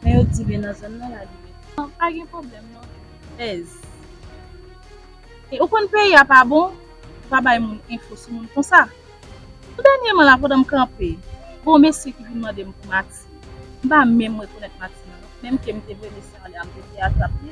Men yo di byen nan zòn nan la li rete. Bon pa gen pwoblèm non ez. E ou konn peyi a pa bon ou pa bay moun enfo sou moun konsa. Tou dènyeman la pandan m kanpe gen yon mesye ki vin mande m pou Maxi m pa menm rekonèt Maxi nan non menm ke m te vre mesye an lè a m te vle atrap li.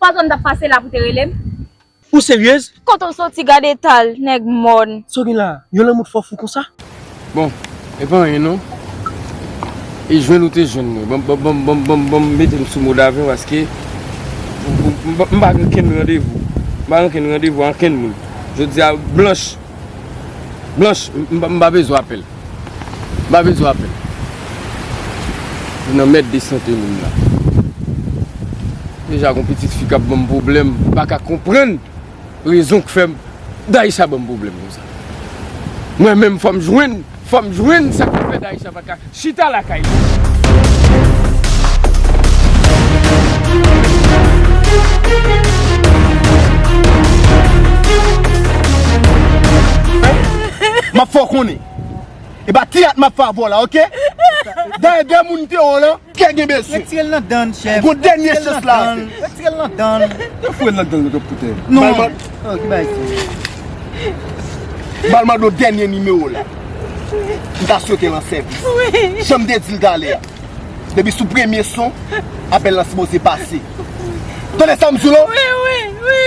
Pardon m tap pase la pou te rele m. Ou seryez? Kote w soti gad eta l nèg mòn. Sa w gen la? Yon lanmou t fè w fou konsa? Bon e pa anyen non. E jwenn ou te jwenn mwen. Bon m mete m sou mode aven paske m pa gen okenn randevou. M pa gen okenn randevou ak okenn moun. Jodi a blanch. Blanche m pa bezwen apèl. M pa bezwen apèl. Ou nan mèd de sante moun la. Deja gon pitit fi kap banm pwoblèm. M pa ka konprann rezon k fèm Daïsha banm pwoblèm konsa. Mwen menm fòm jwenn. Fòm jwenn sa ki fè Daisha pa ka chita lakay li. Map fè w konnen. Epa teyat map fè avè w la ok. Dayè 2 moun te wè w lan. Kè gen bezwen. Retire l nan dan chèf. Gon dènye chans la. Retire l nan dan. Yo foure l nan dan nan pou tè. Non. Oh ki bay sa. Bal mado dènye nimewo la. M ta swete l an sèvis. Wi. Janm te di l talè a. Depi sou premye son apèl la sipoze pase. Tande sa m di w la. Wi wi wi.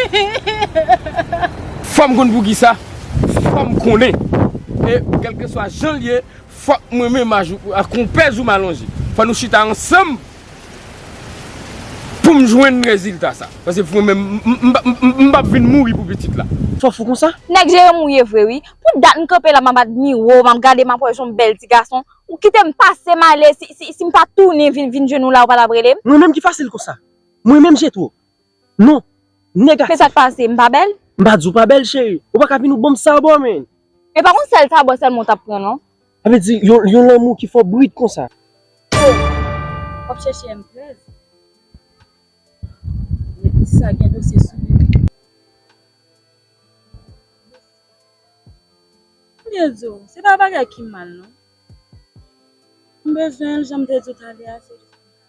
Fòm konn poukisa. Fòm konnen. E kèlkeswa jan l ye. Fok mwen menm ak konpè Zuma lonje. Fok nou chita ansanm poum jwenn rezilta sa. Pase mwen menm m pap vin mouri pou pitit la. Fok fou konsa? Nèg je yo mouye vre wi. Pou dat m kanpe la map admire w, map gade map wè jan w bèl ti gason. Ou kite m pase m ale si m pa tounen vin jwenn ou la ou pa tap rele m? Mwen menm ki fasil konsa? Mwen menm jetwo? Non! Negatif! Kisa k pase? M pa bèl? M pa di w pa bèl cheri. Ou pa ka vin ou ban m sa bò men! E pa yon sèl tabò sèlman ou t ap pran non. Sa vle di yon lanmou ki fò brit konsa. Oh! W ap chèche M 13? Men ti sa gen dosye sou li wi. M byen di w, se pa bagay ki mal non. M bezwen l jan m te di w talè a se jis pou m ka.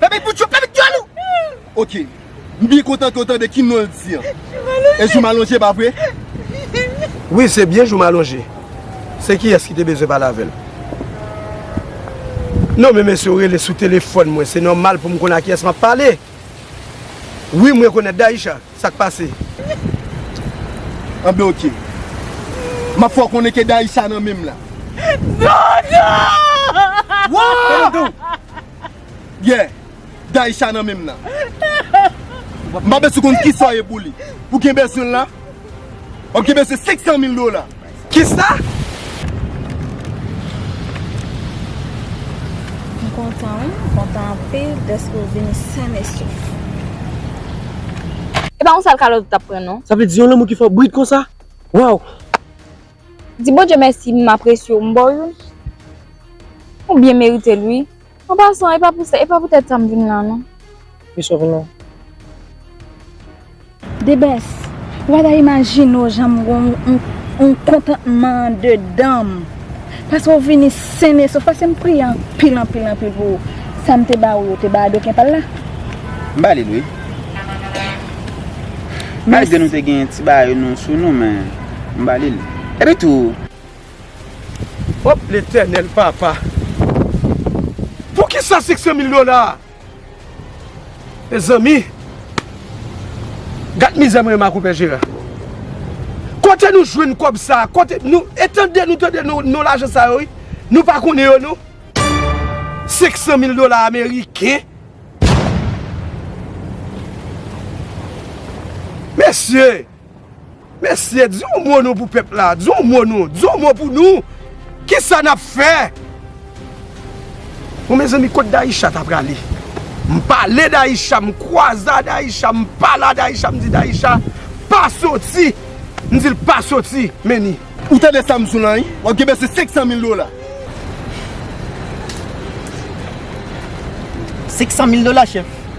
Pèpèt pou Trump, pèpèt dyòl ou! Ok, m byen kontan ke w tande ki non l di an. E Joumalonje, pa vre? Wi, se byen Joumalonje. Se kiyès ki te bezwen pale avè l? Non, men mesye, w rele sou telefòn mwen, se nòmal pou m konn a kiyès m ap pale. Wi, m rekonèt Daïsha. Sa k pase? Anben ok. M ap fè w konnen ke Daïsha nan men m la. Non, non! Wouaa! Kalme w, Yeah Daïsha nan menm nan M pa bezwen konn kisa w ye pou li Ou gen bezwen l la Wap gen bezwen 500 mil dola Kisa? M kontan wi M kontan anpil deske w vini sen e sof E pa yon sal kalòt ou tap pran non Sa vle di yon lanmou ki fè w brit konsa Waww Di Bondye mèsi m apresye w m ba w youn Ou byen merite l wi. An pasan, e pa pou sa, e pa pou tèt sa m vin la non. Ki sa w vin la? Debès, ou pa ta imajine w jan m gen yon kontantman andedan m. Paske w vini sennesof, paske m priye anpil, anpil, anpil pou ou. Sa m te ba ou yo, w te ba Adoken pa l la? M ba li l wi. Malgre nou te gen ti bagay nou sou nou men, m ba li l. Epitou. Op letènèl papa. Poukisa 500 mil dola. Mezanmi. Gad mizè mwen ak ou pè jera. Kote nou jwenn kob sa. Kote nou etande nou tande nou lajan sa yo. Nou pa konnen yo nou. 500 mil dola ameriken. Mesye. Mesye di yon mo nou pou pèp la, di yon mo nou, di yon mo pou nou, kisa nap fè? Bon mezanmi kot Daïsha ta prale? M pale Daïsha, m kwaze a Daïsha, m pale a Daïsha, m di Daïsha pa soti, m di l pa soti, men ni. Ou tande sa m sou lan wi, wap gen bese 500 mil dola. 500 mil dola chèf?